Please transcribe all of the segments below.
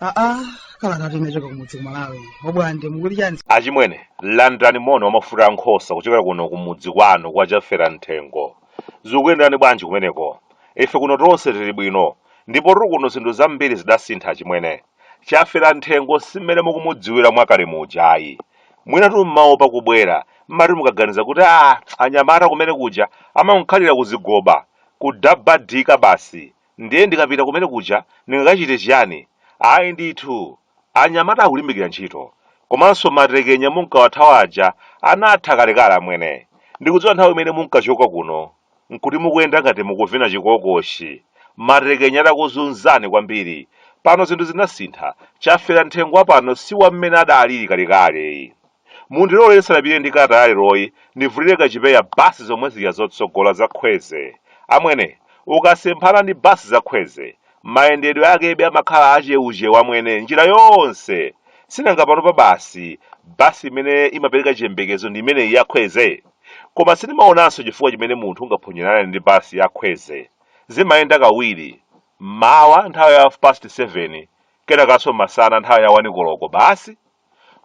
aa kalata inachoka kumudzi kumalawi obwande mukuti chani achimwene landirani moni wamafuta a nkhosa kuchokera kuno kumudzi kwanu kwa chafera nthengo zikuyenderani bwanji kumeneko ife kuno tonse tili bwino ndipotu kuno zinthu zambiri zidasintha achimwene Chafera nthengo si mmene mukumudziwira mwakale muja ayi. Mwinatu mmaopa kubwera, mmati mukaganiza kuti aah anyamata kumene kuja amankhalira kuzigoba, kudabadika basi ndiye ndikapita kumene kuja ndingakachite chiyani? Ayi ndithu, anyamata akulimbikira ntchito komanso matekenya munkawathawa aja anatha kalekale amwene. Ndikudziwa nthawi imene munkachoka kuno nkuti mukuyenda ngati mukuvina chikokoshi, matekenya atakuzunzani kwambiri. Pano zinthu zinasintha, Chafera Nthengo wa pano si wa mmene adalili kalekale. Mundilole ndisanapite ndi kalata ya leroyi, ndivulire kachipeya basi zomwe zija zotsogola za khweze. Amwene, ukasemphana ndi basi za khweze, mayendedwe akebe amakhala achewuchewu amwene njira yonse. Sinanga panopa basi, basi imene imapereka chiyembekezo ndi imeneyi ya khweze? Koma sindimaonanso chifukwa chimene munthu ungaphonyerane ndi basi ya Khweze. Zimayenda kawiri, m'mawa nthawi ya half past 7, kenakanso masana nthawi ya 1 koloko basi.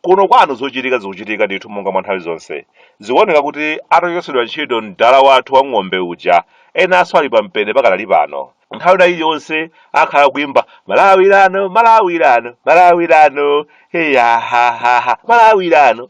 Kuno kwanu zochitika zikuchitika ndithu monga mwa nthawi zonse. Zikuoneka kuti atachotsedwa ntchito mdala wathu wa ng'ombe uja, enanso ali pampeni pakadali pano. Nthawi ina iliyonse akhala akuimba malawirano, malawirano, malawirano, eyahahaha, malawirano.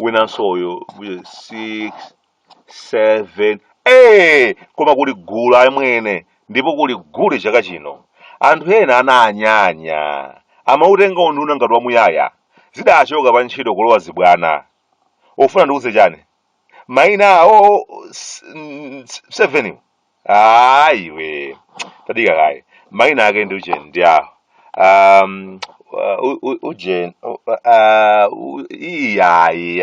winanso uyu 6 7 ee koma kuli gule amwene ndipo kuli gule chaka chino anthu ena ananyanya amautenga unduna ngati wamuyaya zidachoka pa ntchito kulowa zibwana ufuna ndikuze chani maina awo 7 ayi iwe tadika kaye maina ake ndi ujeni ndi awo um, u- u- ujeni iyayi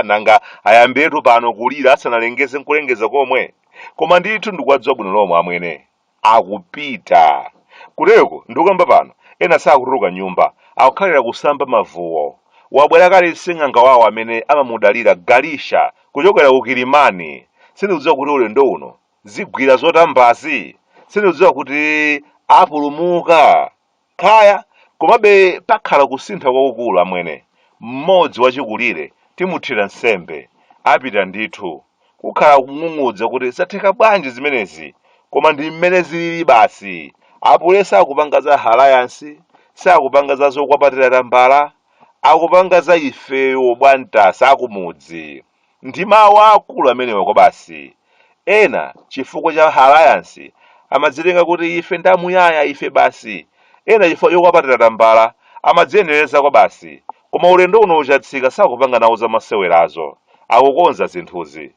nanga ayambiretu pano kulira asanalengeze nkulengeza komwe koma ndithu ndikuwadziwa bwino lomwe amwene akupita kuteko ndikukamba pano ena sakutuluka m'nyumba akukhalira kusamba mavuwo wabwera kale sing'anga wawo amene amamudalira galisha kuchokera ku kilimani sindikudziwa kuti ulendo uno zigwira zotambazi sindikudziwa kuti apulumuka kaya komabe pakhala kusintha kwakukulu amwene mmodzi wachikulire timuthira nsembe apita ndithu kukhala kung'ung'udza kuti zatheka bwanji zimenezi koma ndi mmene zilili basi apule sakupanga za halayansi sakupanga za zokwapatira tambala akupanga za ifeyo obwamtasa akumudzi ndi mawu aakulu amenewa kwabasi ena chifukwa cha alliance amadzitenga kuti ife ndi amuyaya ife basi ena chifukwa chokwapatira tambala amadziyenereza kwabasi koma ulendo uno uchatsika sakupanga nawo zamasewerazo akukonza zinthuzi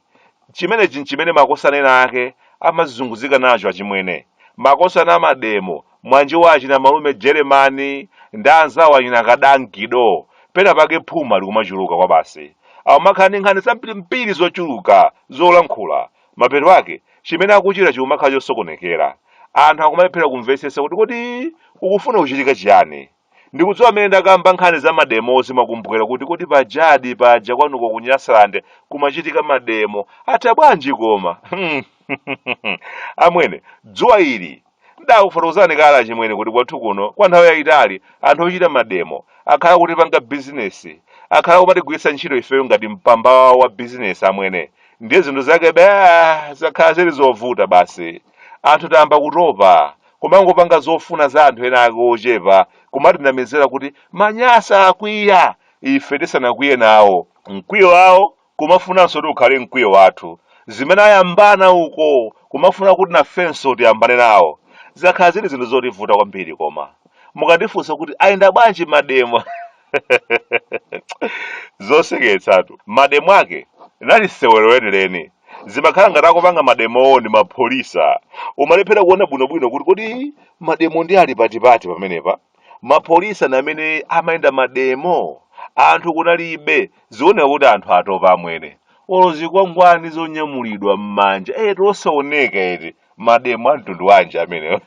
Chimenechi n'chimene makosana ena ake amazunguzika nacho achimwene. Makosana a mademo, mwanji wa achina malume Jeremani ndi anzawo achina Kadaa Gido, pena pake phuma likumachuluka kwabasi. Akumakhala ndi nkhani zambirimbiri zochuluka zolankhula. Mapeto ake, chimene akuchita chikumakhala chosokonekera. Anthu akumalephera kumvetsetsa kuti kodi akufuna kuchitika chiyani. ndikudziwa amene ndakamba nkhani za mademo zimakumbukira kuti kodi pajadi paja kwanuko ku nyasalande kumachitika mademo atha bwanji koma amwene dzuwa ili ndakufotokozani kale achimwene kuti kwathu kuno kwa nthawi yayitali anthu ochita mademo akhala akutipanga bizinesi akhala akumatigwiritsa ntchito ifeyo ngati mpamba wawo wa bizinesi amwene ndiye zinthu zake baa zakhala zili zovuta basi anthu tayamba kutopa Kumangopanga zofuna za anthu ena ake ochepa kumatinamizira kuti manyasa akwiya ife tisanakwiye nawo. Mkwiyo wawo kumafunanso kuti ukhale mkwiyo wathu. Zimene ayambana uko kumafuna kuti nafenso tiyambane nawo. Zakhala zili zinthu zotivuta kwambiri koma. Mukandifunsa kuti ayenda bwanji mademo? Zoseketsatu. Mademo ake linali sewero lenileni. zimakhala ngati akupanga mademowo ndi mapholisa umalephera kuona bwinobwino kuti kodi mademo ndi ali patipati pamenepa mapholisa ndi amene amayenda mademo anthu kunalibe zioneka kuti anthu atopa amwene olo zikwangwani zonyamulidwa m'manja zosaoneka eti mademo a mtundu wanji amenewo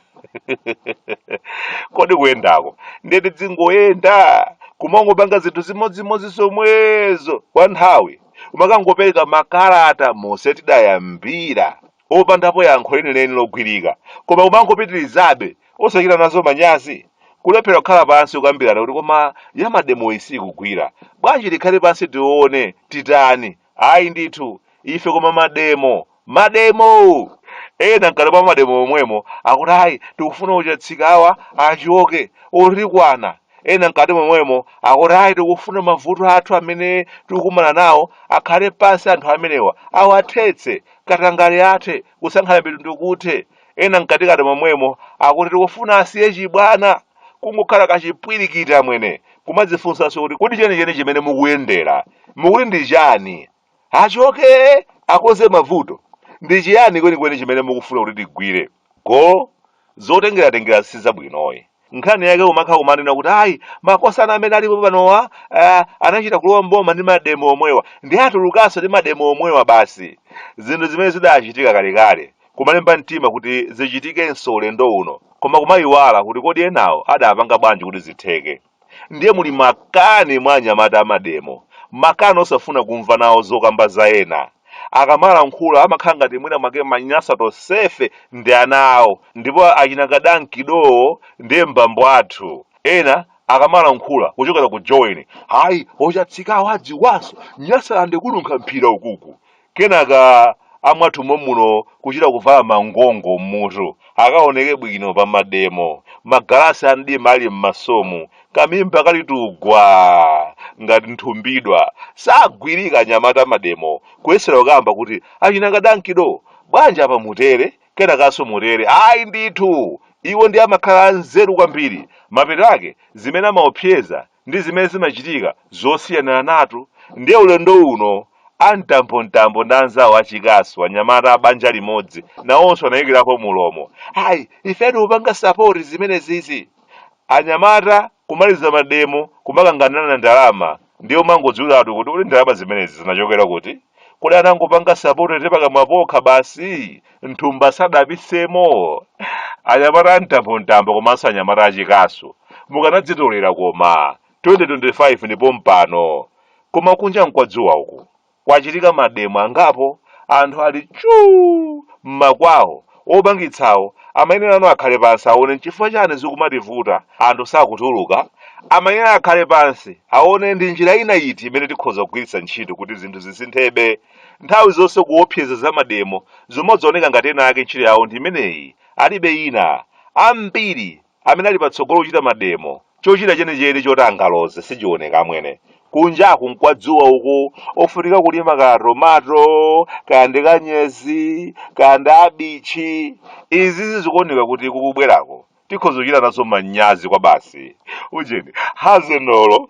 kodi kuyendako ndiye tidzingoyenda kumangopanga zinthu zimodzimodzi zomwezo kwa nthawi kumakangopereka makalata mose tidayambira opandapo yankho lenileni logwirika koma kumangopitirizabe osachita nazo manyazi kulephera kukhala pansi kukambirana kuti koma yamademo isikugwira bwanji tikhale pansi tione titani ayi ndithu ife koma mademo mademo ena mkati mwa mademo omwemo akuti ayi tikufuna uchatsika awa achoke otikwana ena mkati momwemo akuti ayi tikufuna mavuto athu amene tikukumana nawo akhale pansi anthu amenewa awathetse katangale athe kusankhana mitundu kuthe ena mkatikati momwemo akuti tikufuna asiye chibwana kungokhala kachipwirikiti amwene kumadzifunsanso kuti kodi chenicheni chimene mukuyendera mukuti ndi chani achoke akonze mavuto ndi chiyani kwenikweni chimene mukufuna kuti tigwire goal zotengeratengera sizabwinoyi nkhani yake umakhala kumanena kuti ayi makosana amene alipo panowa ah, anachita kulowa mboma ndi mademo omwewa ndi atulukanso ndi mademo omwewa basi zinthu zimene zidachitika kalekale kumalemba mtima kuti zichitikenso ulendo uno koma kumayiwala kuti kodi enawo adapanga bwanji kuti zitheke ndiye muli makani mwa anyamata a mademo, makani osafuna kumva nawo zokamba za ena. Akamalankhula amakhala ngati mwina mwake Manyasa tonsefe ndi ana awo ndipo achina Kadankidowo ndiye m'bambo athu. Ena akamalankhula kuchokera ku Joweni, hayi ochatsikawo adziwanso Nyasalande kununkha mphira ukuku. Kenaka amwathu momuno kuchita kuvala mangongo mmutu akaoneke bwino pa mademo, magalasi a mdima ali m'masomu, kamimba kali tugwa ngati nthumbidwa. Sagwirika anyamata a mademo kuyesera kukamba kuti achina Kadankido bwanji apa mutere, kenakanso mutere? Ayi ndithu! Iwo ndiye amakhala anzeru kwambiri. Mapeto ake zimene amaopseza ndi zimene zimachitika zosiyaniranatu ndiye ulendo uno a mtambontambo ndi anzawo achikasu anyamata a banja limodzi nawonso anayikirapo mulomo ayi ife tikupanga sapoti zimenezizi anyamata kumaliza mademo kumakanganirana ndalama ndiye umangodziwiratu kuti kodi ndalama zimenezi zinachokera kuti kodi anangopanga sapoti tepakamwa pokha basi nthumba sadapisemo anyamata amtambo-mtambo komanso anyamata achikasu mukanadzitolera koma 2025 ndi pompano koma kunja mkwadzuwa uku kwachitika mademo angapo anthu ali chuu mmakwawo opangitsawo amayenera ano akhale pansi aone nchifukwa chani zikumativuta anthu sakutuluka amayenera akhale pansi aone ndi njira ina iti imene tikhoza kugwiritsa ntchito kuti zinthu zisinthebe Nthawi zonse kuopseza za mademo zumadzaoneka ngati ena ake ntchito yawo ndi imeneyi alibe ina. Ambiri amene ali patsogolo kuchita mademo chochita chenicheni choti angaloze sichioneka amwene. Kunjaku nkwadzuwa uku ofunika kulima kaya tomato kaya ndi kanyezi kaya ndi kabichi. Izizi zikuoneka kuti kukubwerako tikhoza kuchita nazo manyazi kwabasi. Ujeni hazenolo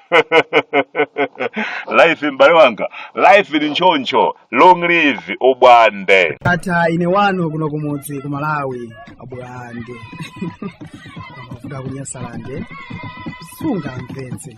life m'bale wanga life ndi nchoncho long live ubwande ndatha ine wanu kuno kumudzi ku malawi abwande kuda kunyasalande sunga mvenze